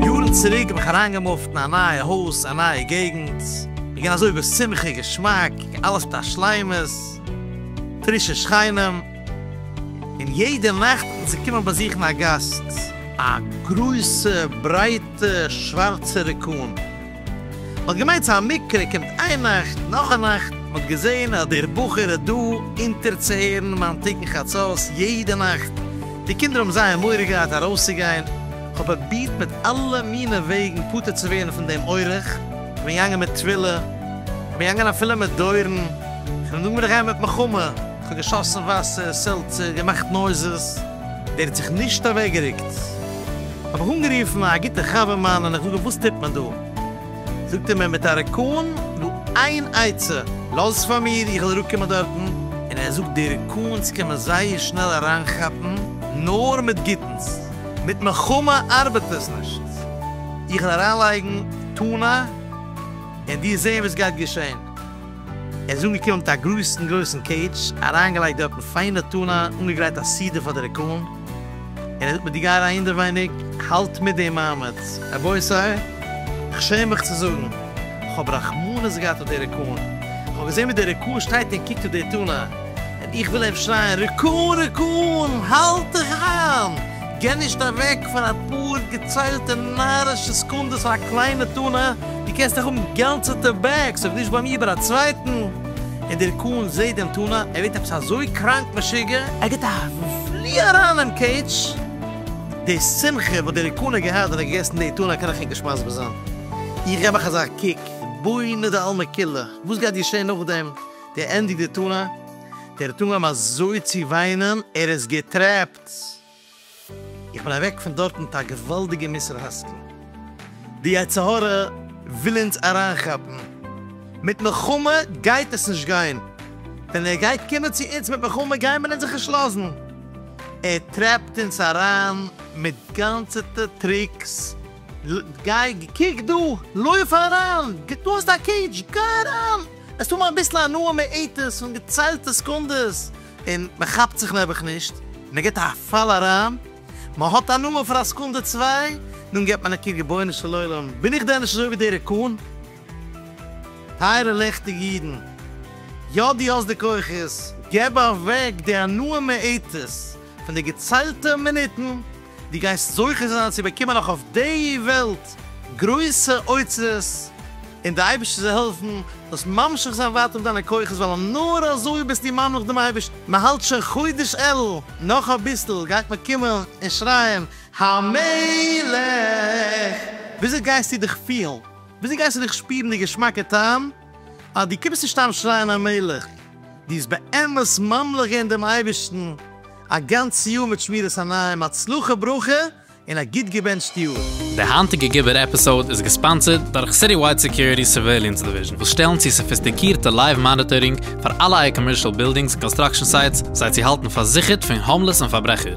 יארן צוריק בין איך אריינגעמופט אין א נייע הויז, א נייע געגנט, מ'געווען אזוי בשמחה, געשמאק, אלעס מיט א שלימות, פרישע שכנים, און יעדע נאכט האט אונז געקומען באזוכן א גאסט, א גרויסע ברייטע שווארצע רעקון. מ'האט געמיינט ס'איז א מקרה, קומט איין נאכט, נאך א נאכט, מ'האט געזען אז דער בחור איז דא אונטערצוהערן מיין תיקון חצות יעדע נאכט, די קינדער האבן זייער מורא געהאט ארויסצוגיין, כ'האב פרובירט מיט אלע מינע וועגן פטור צו ווערן פון דעם אורח, כ'בין געגאנגען מיט טבילה, כ'בין געגאנגען אפילו מיט דורן, כ'בין געגאנגען מיט מלחמה, כ'האב געשאסן וואסער, סעלצער, געמאכט נויזעס. דער האט זיך נישט אוועקגערוקט, האב איך אנגערופן א גוטע חבר מיין און איך זאג אים וואס טוט מען דא? זאגט ער מיר מיט א ריקאן דא איין עצה, לאז פאר מיר איך וועל אראפקומען דארטן, און ער זאגט די ריקאנס קען מען זייער שנעל אריינכאפן נאר מיט גוטנס, מיט מלחמה ארבעט עס נישט, איך וועל אריינלייגן טונא און דיר זען וואס גייט געשען. ער איז אנגעקומען מיט א גרויסן גרויסן קעיטש, אריינגעלייגט דארטן פיינע טונא, אנגעגרייט א סעודה פאר די ריקאלן, און ער זאגט מיר דו גיי אריין אינדערווייניג, האלט מיט דעם מעמד. רבותי, איך שעם מיך צו זאגן, כ'האב רחמנות געהאט אויף די ריקאלן, כ'האב געזען ווי דער ריקאל שטייט און קוקט אויף די טונא, און איך וויל איהם שרייען, ריקאל ריקאל, האלט דיך איין! גיי נישט אוועק פאר אפאר געציילטע נארישע סעקונדעס פאר א קליינע טונא, דו קענסט דאך האבן גאנצעטע בעגס אויב נישט ביי מיר ביי א צווייטן, און דער קאהן זעהט דעם טונא, ער ווערט עפעס אזוי קראנק משוגע, ער גיבט א פלי אריין אין קעידזש, די שמחה וואס דער קאהן האט געהאט ווען ער האט געגעסן די טונא קען איך ענק נישט מסביר זיין, איך געב אייך אזא קוק, בונה דעלמא כולה, וואס גייט געשעהן נאכדעם, דער ענדיגט די טונא, דער טונא האט אים אזוי צו וויינען, ער איז געטרעפט. ס. איך בין אוועק פון דארט מיט א געוואלדיגע מוסר השכל. די יצר הרע וויל אונז אריינכאפן מיט מלחמה, גייט עס נישט גיין. ווען ער גייט קומען צו אונז מיט מלחמה גייען מיר אונז זיך נישט לאזן. ער טרעפט אונז אריין מיט גאנצעטע טריקס, גיי, קוק דא, לויף אריין, דא האסטו א קעידזש, גיי אריין, עס האב אביסל הנאה מועטת פון געציילטע סעקונדעס, און מען כאפט זיך נעבעך נישט, מען גיבט א פאל אריין, מען האט הנאה פאר א סעקונדע צוויי, דאן גיבט מען א קוק, רבונו של עולם, בין איך דען נישט אזוי ווי די ריקאן? טייערע לעכטיגע אידן, יא דו האסט די כוחות, געב אוועק די הנאה מעטות פון די געציילטע מינוטן, דו גייסט זוכה זיין צו באקומען נאך אויף די וועלט גרויסע אוצרות, און די אייבערשטער זאל העלפן זאלסט ממשיך זיין ווייטער מיט דיינע כוחות, ווייל נאר אזוי ביסט דו ממליך דעם אייבערשטן. מען האלט שוין חודש אלול, נאך אביסל גייט מען קומען און שרייען המלך! וויאזוי גייסטו דיך פילן? וויאזוי גייסטו דיך שפירן די געשמאקע טעם? אז דו קומסט נישט אהן שרייען המלך, דו האסט באמת ממליך געווען דעם אייבערשטן א גאנץ יאר מיט שמירת עיניים, הצלחה וברכה, און א גוט געבענטשט יאר. די היינטיגע גיבור עפיסאוד איז געספאנסערד דורך סיטיווייד סעקיוריטי'ס סורוועיליענס דיוויזשן וואס שטעלן צו סאפיסטיקירטע לייוו מאניטארינג פאר אלע אייער קאמערשאל בילדינגס און קאנסטראקשן סייטס זיי צו האלטן פארזיכערט פון האומלעס און פארברעכער.